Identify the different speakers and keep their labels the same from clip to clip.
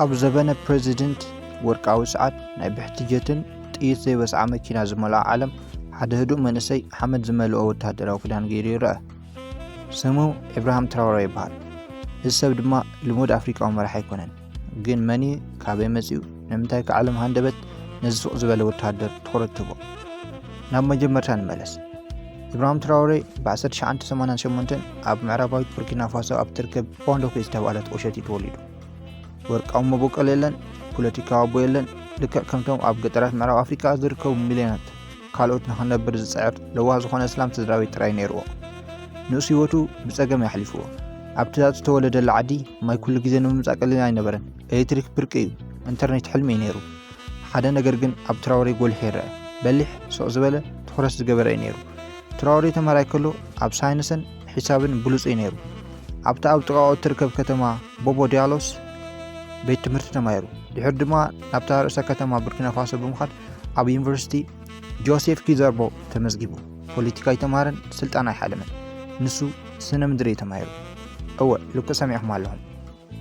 Speaker 1: ኣብ ዘበነ ፕረዚደንት ወርቃዊ ሰዓት ናይ ብሕቲ ጀትን ጥይት ዘይበስዓ መኪና ዝመልኣ ዓለም ሓደ ህዱእ መንእሰይ ሓመድ ዝመልኦ ወተሃደራዊ ክዳን ገይሩ ይረአ። ስሙ ኢብራሃም ትራውረ ይበሃል። እዚ ሰብ ድማ ልሙድ ኣፍሪቃዊ መራሕ ኣይኮነን። ግን መን እዩ? ካበይ መጺኡ? ንምንታይ ከ ዓለም ሃንደበት ነዚ ስቕ ዝበለ ወተሃደር ትኹረት ትህቦ? ናብ መጀመርታ ንመለስ። ኢብራሂም ትራውሬ ብ1988 ኣብ ምዕራባዊት ቡርኪና ፋሶ ኣብ ትርከብ ፖንዶኪ ዝተባህለት ቁሸት እዩ ተወሊዱ። ወርቃዊ መበቆል የለን፣ ፖለቲካዊ ኣቦ የለን፣ ልክዕ ከምቶም ኣብ ገጠራት ምዕራብ ኣፍሪቃ ዝርከቡ ሚልዮናት ካልኦት ንኽነብር ዝጽዕር ለዋህ ዝኾነ እስላም ስድራ ቤት ጥራይ ነይርዎ። ንእሱ ህይወቱ ብጸገም የሕሊፍዎ። ኣብቲ ዝተወለደላ ዓዲ ማይ ኩሉ ግዜ ንምምጻእ ቀሊል ኣይነበረን። ኤሌክትሪክ ብርቂ እዩ፣ ኢንተርኔት ሕልሚ እዩ ነይሩ። ሓደ ነገር ግን ኣብ ትራወሬ ጎሊሑ ይረአ። በሊሕ፣ ስቕ ዝበለ፣ ትኹረት ዝገበረ እዩ ነይሩ። ትራወሬ ተማሃራይ ከሎ ኣብ ሳይንስን ሒሳብን ብሉጽ'ዩ ነይሩ። ኣብታ ኣብ ጥቓኡ እትርከብ ከተማ ቦቦ ዲያሎስ ቤት ትምህርቲ ተማሂሩ። ድሕሪ ድማ ናብታ ርእሰ ከተማ ቡርኪናፋሶ ብምኻድ ኣብ ዩኒቨርሲቲ ጆሴፍ ኪዘርቦ ተመዝጊቡ። ፖለቲካ ኣይተማሃረን፣ ስልጣን ኣይሓለመን። ንሱ ስነ ምድሪ እዩ ተማሂሩ። እወ ልክዕ ሰሚዕኩም ኣለኹም።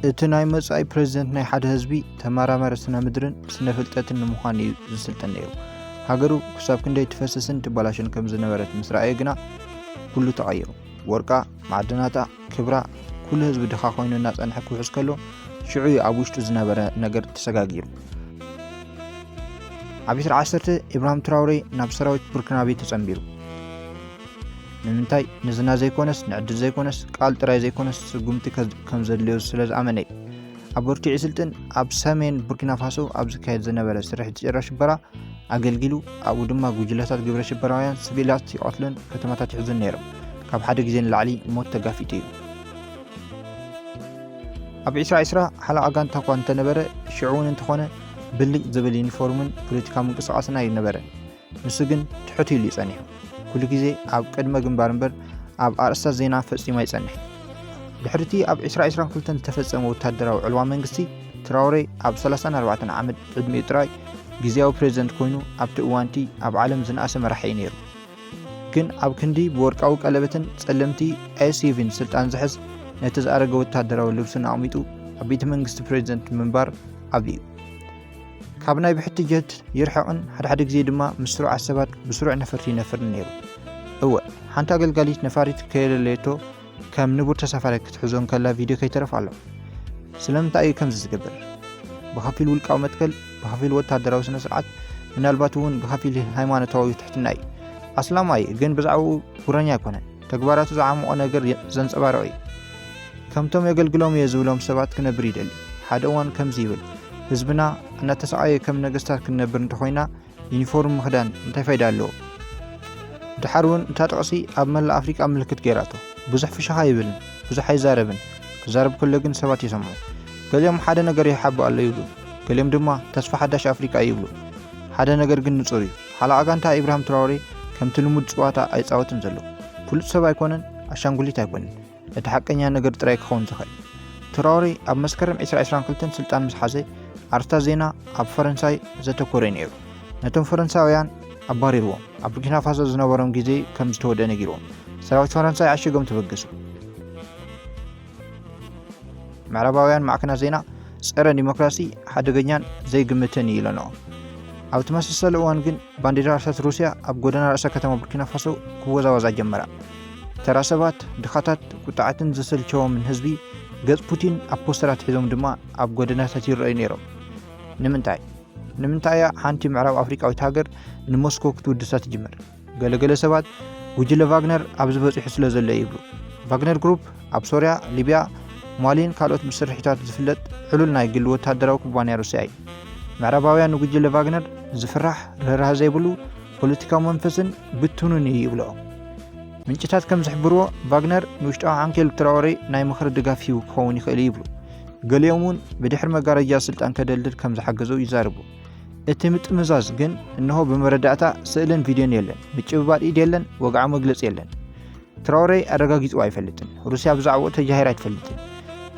Speaker 1: እቲ ናይ መጻኢ ፕረዚደንት ናይ ሓደ ህዝቢ ተመራማሪ ስነ ምድርን ስነ ፍልጠትን ንምዃን እዩ ዝስልጥን ነይሩ። ሃገሩ ክሳብ ክንደይ ትፈስስን ትበላሽን ከም ዝነበረት ምስ ረኣየ ግና ኩሉ ተቐይሩ። ወርቃ፣ ማዕድናታ፣ ክብራ፣ ኩሉ ህዝቢ ድኻ ኮይኑ እናጸንሐ ክውሕስ ከሎ ሽዑ እዩ ኣብ ውሽጡ ዝነበረ ነገር ተሰጋጊሩ። ዓቢትር ዓሰርተ ኢብራሂም ትራውሬ ናብ ሰራዊት ቡርኪናቤ ተጸንቢሩ። ንምንታይ ንዝና ዘይኮነስ ንዕድል ዘይኮነስ ቃል ጥራይ ዘይኮነስ ስጉምቲ ከም ዘድልዮ ስለ ዝኣመነ እዩ ኣብ ቦርኪዒ ስልጥን ኣብ ሰሜን ቡርኪናፋሶ ኣብ ዝካየድ ዝነበረ ስርሒት ጭራ ሽበራ ኣገልጊሉ ኣብኡ ድማ ጉጅለታት ግብረ ሽበራውያን ስቪላት ይቐትሉን ከተማታት ይሕዙን ነይሮም ካብ ሓደ ግዜ ንላዕሊ ሞት ተጋፊጡ እዩ ኣብ ዒስራ ዒስራ ሓለቓ ጋንታ እኳ እንተነበረ ሽዑ እውን እንተኾነ ብልጭ ዝብል ዩኒፎርምን ፖለቲካ ምንቅስቓስን ኣይነበረን ንሱ ግን ትሑት ኢሉ እዩ ጸኒሑ። ኩሉ ግዜ ኣብ ቅድመ ግንባር እምበር ኣብ ኣርእስታት ዜና ፈጺሙ ኣይጸንሕን። ድሕሪ እቲ ኣብ ዕስራ ዕስራን ክልተን ዝተፈጸመ ወተሃደራዊ ዕልዋ መንግስቲ፣ ትራውሬ ኣብ ሰላሳን ኣርባዕተን ዓመት ዕድሚኡ ጥራይ ግዝያዊ ፕረዚደንት ኮይኑ ኣብቲ እዋን'ቲ ኣብ ዓለም ዝነኣሰ መራሒ እዩ ነይሩ። ግን ኣብ ክንዲ ብወርቃዊ ቀለበትን ጸለምቲ SUVን ስልጣን ዝሕዝ፣ ነቲ ዝኣረገ ወተሃደራዊ ልብሱን ኣቕሚጡ ኣብ ቤተ መንግስቲ ፕረዚደንት ምንባር ዓብሊ'ዩ። ካብ ናይ ብሕቲ ጀት ይርሕቕን ሓድሓደ ግዜ ድማ ምስ ስሩዓት ሰባት ብስሩዕ ነፈርቲ ይነፍርን ነይሩ። እወ ሓንቲ ኣገልጋሊት ነፋሪት ከየለለየቶ ከም ንቡር ተሳፋሪ ክትሕዞ እንከላ ቪድዮ ከይተረፍ ኣሎ። ስለምንታይ እዩ ከምዚ ዝገብር? ብኸፊል ውልቃዊ መትከል፣ ብኸፊል ወተሃደራዊ ስነ ስርዓት፣ ምናልባት እውን ብኸፊል ሃይማኖታዊ ትሕትና እዩ። ኣስላማይ ግን ብዛዕባኡ ጉረኛ ኣይኮነን። ተግባራቱ ዝዓሞቖ ነገር ዘንጸባርቕ እዩ። ከምቶም የገልግሎም እየ ዝብሎም ሰባት ክነብር ይደሊ። ሓደ እዋን ከምዚ ይብል፣ ህዝብና እናተሰቓየ ከም ነገስታት ክንነብር እንተኾይና ዩኒፎርም ምኽዳን እንታይ ፋይዳ ኣለዎ? ድሓር እውን እታ ጥቕሲ ኣብ መላእ ኣፍሪቃ ምልክት ገይራቶ። ብዙሕ ፍሽኻ ይብልን ብዙሕ ኣይዛረብን፣ ክዛረብ ከሎ ግን ሰባት ይሰምዑ። ገሊኦም ሓደ ነገር ይሓብእ ኣሎ ይብሉ፣ ገሊኦም ድማ ተስፋ ሓዳሽ ኣፍሪቃ እዩ ይብሉ። ሓደ ነገር ግን ንጹር እዩ፣ ሓለቓ ጋንታ ኢብራሂም ትራወሬ ከምቲ ልሙድ ጽዋታ ኣይጻወትን ዘሎ። ፍሉጥ ሰብ ኣይኮነን፣ ኣሻንጉሊት ኣይኮነን፣ እቲ ሓቀኛ ነገር ጥራይ ክኸውን ዝኽእል። ትራወሬ ኣብ መስከረም ዕስራ ዕስራን ክልተን ስልጣን ምስ ሓዘ፣ ኣርስታት ዜና ኣብ ፈረንሳይ ዘተኮረ'ዩ ነይሩ። ነቶም ፈረንሳውያን ኣባሪርዎም፣ ኣብ ቡርኪና ፋሶ ዝነበሮም ግዜ ከም ዝተወድኣ ነጊርዎም፣ ሰራዊት ፈረንሳይ ዓሺጎም ተበገሱ። ምዕራባውያን ማዕከናት ዜና ጸረ ዲሞክራሲ ሓደገኛን ዘይግምትን እዩ ኢለንኦ ኣብ ተመሳሰለ እዋን ግን ባንዴራ ርሰት ሩስያ ኣብ ጎደና ርእሰ ከተማ ቡርኪና ፋሶ ክወዛወዛ ጀመራ ተራ ሰባት ድኻታት ቁጣዓትን ዘሰልቸዎምን ህዝቢ ገጽ ፑቲን ኣብ ፖስተራት ሒዞም ድማ ኣብ ጎደናታት ይረኣዩ ነይሮም ንምንታይ ንምንታይ እያ ሓንቲ ምዕራብ ኣፍሪቃዊት ሃገር ንሞስኮ ክትውድሳ ትጅምር ገለገለ ሰባት ጉጅለ ቫግነር ኣብዚ በፂሑ ስለ ዘሎ ይብሉ። ቫግነር ግሩፕ ኣብ ሶርያ፣ ሊብያ፣ ማሊን ካልኦት ብስርሒታቱ ዝፍለጥ ዕሉል ናይ ግሊ ወተሃደራዊ ኩባንያ ሩስያ እዩ። ምዕራባውያን ንጉጅለ ቫግነር ዝፍራሕ ርህራህ ዘይብሉ ፖለቲካዊ መንፈስን ብትኑን እዩ ይብሎ። ምንጭታት ከም ዝሕብርዎ ቫግነር ንውሽጣዊ ዓንኬል ትራወሬ ናይ ምኽሪ ድጋፍ ሂቡ ክኸውን ይኽእል ይብሉ። ገሊኦም እውን ብድሕሪ መጋረጃ ስልጣን ከደልድል ከም ዝሓገዞ ይዛርቡ። እቲ ምጥምዛዝ ግን እነሆ ብመረዳእታ ስእልን ቪድዮን የለን፣ ምጭብባጥ ኢድ የለን፣ ወግዓ መግለፂ የለን። ትራውሬ ኣረጋጊፅዎ ኣይፈልጥን። ሩስያ ብዛዕባኡ ተጃሂራ ኣይትፈልጥን።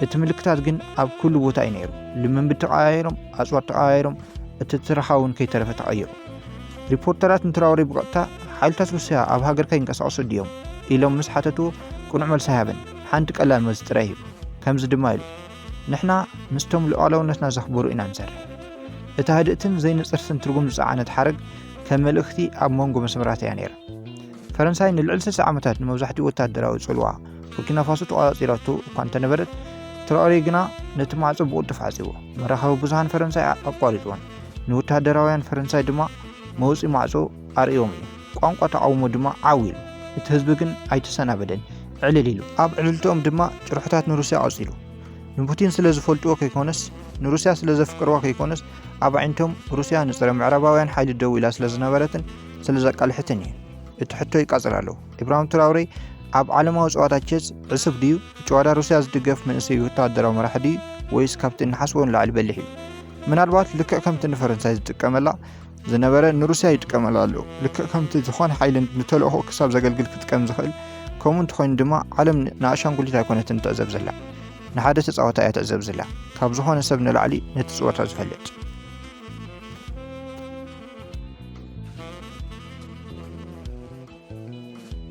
Speaker 1: እቲ ምልክታት ግን ኣብ ኩሉ ቦታ እዩ ነይሩ። ልምምድ ተቀያይሮም፣ ኣፅዋር ተቀያይሮም፣ እቲ ትረኻ እውን ከይተረፈ ተቐይሩ። ሪፖርተራት ንትራውሬ ብቐጥታ ሓይልታት ሩስያ ኣብ ሃገርካ ይንቀሳቐሱ ድዮም ኢሎም ምስ ሓተቱ ቅኑዕ መልሲ ኣይሃበን። ሓንቲ ቀላል መልሲ ጥራይ ሂቡ። ከምዚ ድማ ኢሉ ንሕና ምስቶም ሉዓላውነትና ዘኽብሩ ኢና ንሰርሕ። እታ ህድእትን ዘይንጽርትን ትርጉም ዝጸዓነት ሓረግ ከም መልእኽቲ ኣብ መንጎ መስመራት እያ ነይራ። ፈረንሳይ ንልዕሊ ስልሳ ዓመታት ንመብዛሕትኡ ወተሃደራዊ ጽልዋ ቡርኪናፋሶ ተቖጻጺራቶ እኳ እንተነበረት፣ ትራኦሬ ግና ነቲ ማዕጾ ብቕልጡፍ ዓጽይዎ። መራኸቢ ብዙሃን ፈረንሳይ ኣቋሪጽዎን ንወተሃደራውያን ፈረንሳይ ድማ መውጽኢ ማዕጾ ኣርእዮም እዩ። ቋንቋ ተቓውሞ ድማ ዓው ኢሉ። እቲ ህዝቢ ግን ኣይተሰናበደን፣ ዕልል ኢሉ። ኣብ ዕልልትኦም ድማ ጭርሖታት ንሩስያ ቀጺሉ። ንፑቲን ስለ ዝፈልጥዎ ከይኮነስ ንሩስያ ስለ ዘፍቅርዋ ከይኮነስ ኣብ ኣዒንቶም ሩስያ ንጽረ ምዕራባውያን ሓይሊ ደው ኢላ ስለ ዝነበረትን ስለ ዘቃልሕትን እዩ። እቲ ሕቶ ይቃጽል ኣሎ። ኢብራሂም ትራውሬ ኣብ ዓለማዊ ጸዋታ ቼዝ ዕሱብ ድዩ? ጨዋዳ ሩስያ ዝድገፍ መንእሰይ ወተሃደራዊ መራሒ ድዩ? ወይስ ካብቲ እንሓስቦ ንላዕሊ በሊሕ እዩ? ምናልባት ልክዕ ከምቲ ንፈረንሳይ ዝጥቀመላ ዝነበረ ንሩስያ ይጥቀመሉ ኣሎ ልክዕ ከምቲ ዝኾነ ሓይሊ ንተልእኾ ክሳብ ዘገልግል ክጥቀም ዝኽእል ከምኡ እንተኾይኑ ድማ ዓለም ንኣሻንጉሊት ኣይኮነትን ትዕዘብ ዘላ ንሓደ ተፃወታ እያ ትዕዘብ ዘላ ካብ ዝኾነ ሰብ ንላዕሊ ነቲ ፅወታ ዝፈልጥ